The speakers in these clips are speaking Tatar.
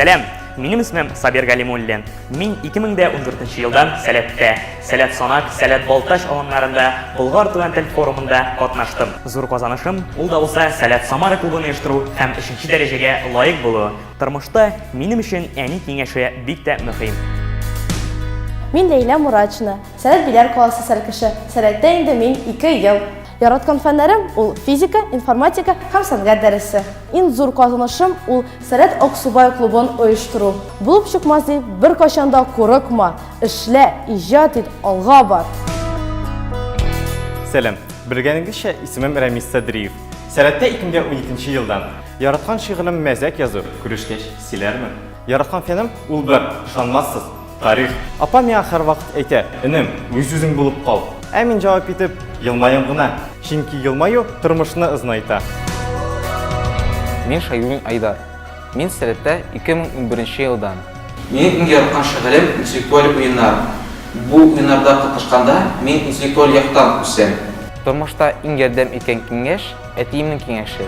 Сәләм! Минем исмем Сабир Галимуллин. Мин 2014 елдан Сәләттә, Сәләт Санак, Сәләт Балтач аланнарында Болгар туган тел форумында катнаштым. Зур казанышым ул да булса Сәләт Самара клубын оештыру һәм 3 дәрәҗәгә лаек булу. Тормышта минем өчен әни киңәше бик тә мөһим. Мин Ләйлә Мурачна. Сәләт Биләр каласы сәлкеше. Сәләттә инде мин ике ел. Яраткан фәннәрем ул физика, информатика һәм сәнгать дәресе. Иң зур казанышым ул Сәләт Аксубай клубын оештыру. Булып чыкмас дип беркайчан да курыкма, эшлә, иҗат ит, алга бар! Сәлам! Белгәнегезчә, исемем Рәмис Садриев. Сәләттә икемгә уникенче елдан. Яраткан шигырем мәзәк язу, күрешкәч, сөйләрмен. Яраткан фәнем ул бер, ышанмассыз. Тарих. Апа миңа һәрвакыт әйтә. Энем, үз үзең булып кал. Ә мин җавап итеп. Елмаям гына. Чөнки елмаю тормышны озынайта. Мин Шәйдуллин Айдар. Мин сәләттә 2011 елдан. Минем иң яраткан шөгылем интеллектуаль уеннар. Бу уеннарда катнашканда мин интеллектуаль яктан үсәм. Тормышта иң ярдәм иткән киңәш, әтиемнең киңәше.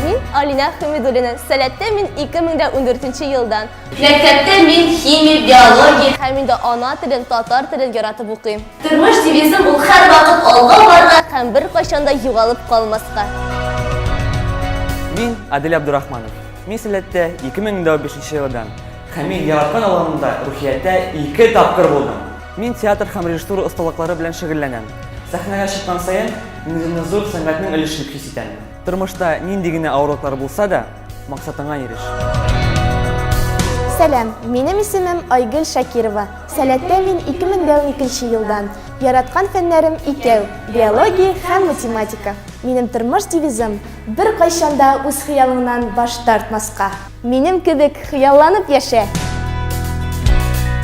Мин Алинә Хәмидуллина, сәләттә мин 2014 елдан. Мәктәптә мин химия, биология. Һәм инде ана телен, татар телен яратып укыйм. Тормыш девизым ул һәрвакыт алга барырга. Һәм беркайчан да югалып калмаска. Мин Адель Абдурахманов. Мин Сәләттә 2005 елдан. Һәм мин яраткан авылымда Рухияттә ике тапкыр булдым. Мин театр һәм режиссура осталыклары белән шөгыльләнәм. Сәхнәгә чыккан саен, үземне зур сәнгатьнең өлешен хис итәм. Тормышта нинди генә авырлыклар булса да. Максатыңа иреш. Сәлам, минем исемем Айгөл Шакирова. Сәләттә мин 2012 елдан. Яраткан фәннәрем икәү, биология һәм математика. Минем тормыш девизым бер кайчанда үз хыялыңнан баш тартмаска. Минем кебек хыялланып яшә.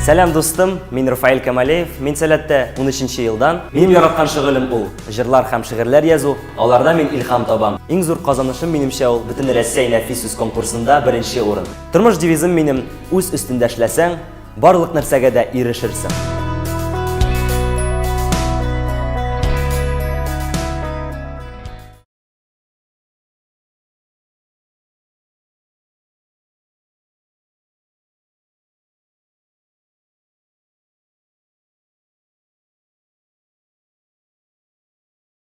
Сәлам дустым, мин Рафаэль Камалеев, мин Сәләттә 13 елдан. Минем яраткан шөгылем ул, җырлар һәм шигырьләр язу. Аларда мин илһам табам. Иң зур казанышым, минемчә, ул Бөтенрәссәй нәфис сүз конкурсында беренче урын. Тормыш девизым минем, үз өстендә эшләсәң, барлык нәрсәгә дә ирешерсең.